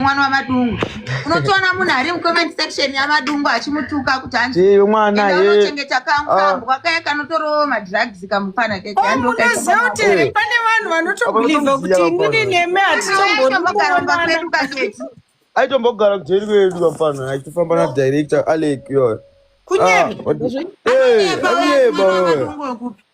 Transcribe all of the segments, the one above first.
mwana wamadungu unotoona munhu ari mucomment section yamadungu achimutuka kuti anziiwe mwana anochengeta kangu ah. kambwa kaya kanotorowo madrugs kamupana kekeanoziva oh, kuti pane vanhu vanotobeliva kuti inini neme hatitombokaramba kwedu kaketi aitombogara kujeri kwedu kamupana achitofamba na director alek yoyo kunyeba ah,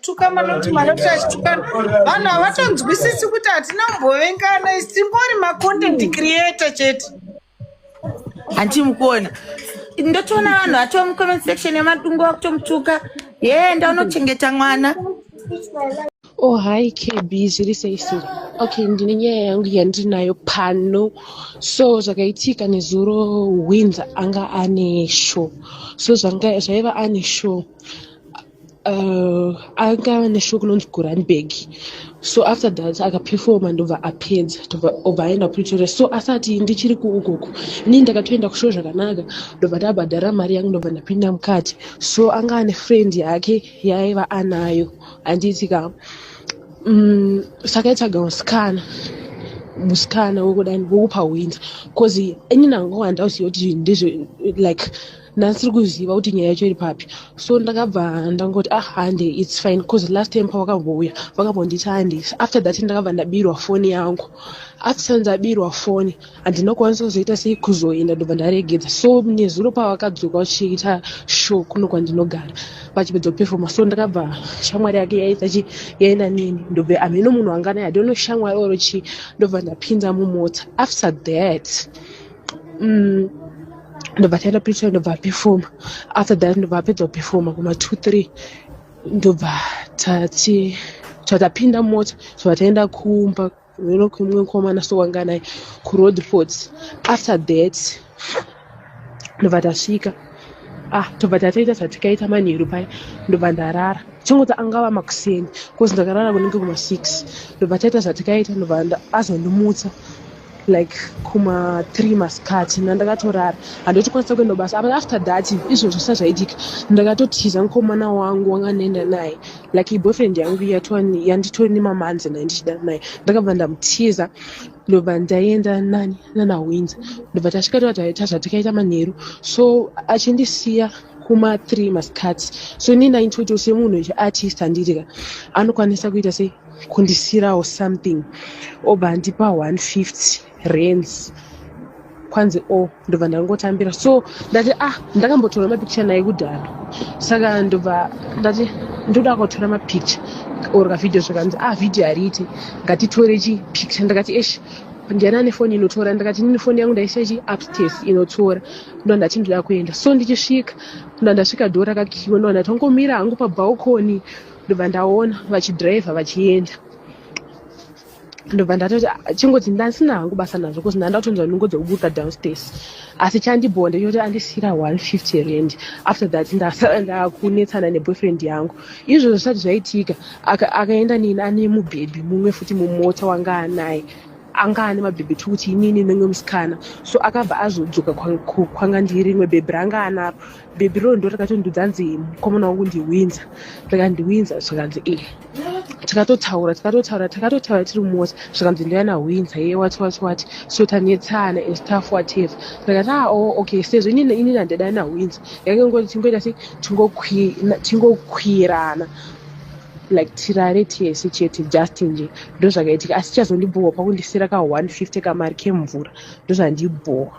tukana noti manoti achitukana vanhu havatonzwisisi kuti hatina kumbovengana isi tingori macontent mm. creator chete hanti mukuona ndotoona vanhu vato mucomment section yemadungo vakutomutuka yee ndaunochengeta mwana oh hi kb zviri sei siri okay ndine nyaya yangu yandinayo pano so zvakaitika nezuro winza anga ane show so zvaiva ane show uh, akava neshow kunonzi goranberg so after that akaperfoma ndobva apedza obva aenda kupretoria so asati ndichiri kuukoko nii ndakatoenda kushow zvakanaka ndobva ndabhadhara mari yangu ndobva ndapinda mukati so anga ane friend yake yaiva anayo handiti ka um sakaitsvaga musikana musikana wekudani wekupa winza bcause ini nangowa ndauziva kuti ndizvo like ndandisiri kuziva kuti nyaya yacho iri papi so ndakabva ndangoti ah hande its fine bcause last time pawakambouya wakambonditi hande after that ndakabva ndabirwa foni yangu after ndabirwa foni handina kukwanisa kuzoita sei kuzoenda ndobva ndaregedza so nezuro pavakadzoka vachiita show kuno kwandinogara vachipedza kupefoma so ndakabva shamwari yake yaitachi yaenda neni ndobve hameno munhu anganai hadiono shamwari oro chii ndobva ndapinda mumota after that mm, ndobva taenda preacher ndobva performa after that ndobva apedza kuperforma kuma two three ndobva tati tatapinda mota tobva taenda kumba veno kumwe mukomana sowanga naye kuroad port after that ndobva tasvika ah tobva tataita zvatikaita manheru paya ndobva ndarara chingoti angava makuseni bcause ndakarara kunenge kuma six ndobva taita zvatikaita ndobva azondimutsa like kuma three masikati nandakatorara handoti kwanisa kuenda basa apa after that izvo zvisa zvaitika ndakatotiza mukomana wangu wanga ndaenda naye like iboyfriend yangu yatwani yanditori nemamanzi naye ndichida naye ndakabva ndamutiza ndobva ndaienda nani nana winza ndobva tasvika toataita zvatakaita manheru so achindisiya kuma three masikati so ini ndaintoitawo semunhu echiartist handiri ka anokwanisa kuita sei kundisiyirawo something obva andipa 150 rands kwanzi o oh, ndobva ndangotambira so ndati ah ndakambotora mapikicha naye kudhara saka ndobva ndati ndoda kutora mapikicha or kavhidhiyo zvakanzi ah vhidhiyo hariiti ngatitore chipikicha ndakati esh ndiani ane foni inotora ndakati nini foni yangu ndaisa chi upstairs inotora ndo ndati ndoda kuenda so ndichisvika ndo ndasvika dho rakakiwa ndo ndati ongomira hangu pabalcony ndobva ndaona vachidriver vachienda ndobva ndatoti ah, chingoti ndasina hangu basa nazvo bcause ndandatonzwa nungo dzekuburuka downstairs asi chandibhowa ndechoti andisiyira 150 rand after that ndasara ndakunetsana neboyfriend yangu izvozvo zvisati zvaitika akaenda nini ane mubhebhi mumwe futi mumota wanga anaye anga ane mabhebhi two kuti inini nemwe musikana so akabva azodzoka kwanga ndiri rimwe bhebhi ranga anaro bhebhi roo ndo rakatondiudza hanzi mukomana wangu ndiwinza rikandiwinza zvikanzi e tikatotaura tikatotaura takatotaura tiri mumota zvikanzi ndoyana hwinza ye wati wati wati so tanetsana and stuff whatever ndikati a ah, o oh, okay sezvo inini inini handidai nahwinza yange ngoti tingoita se tingokwirana like tirare tese chete just nje ndo zvakaitika asi chazondibhohwa pakundisira ka 150 kamari kemvura ndo zvandibhohwa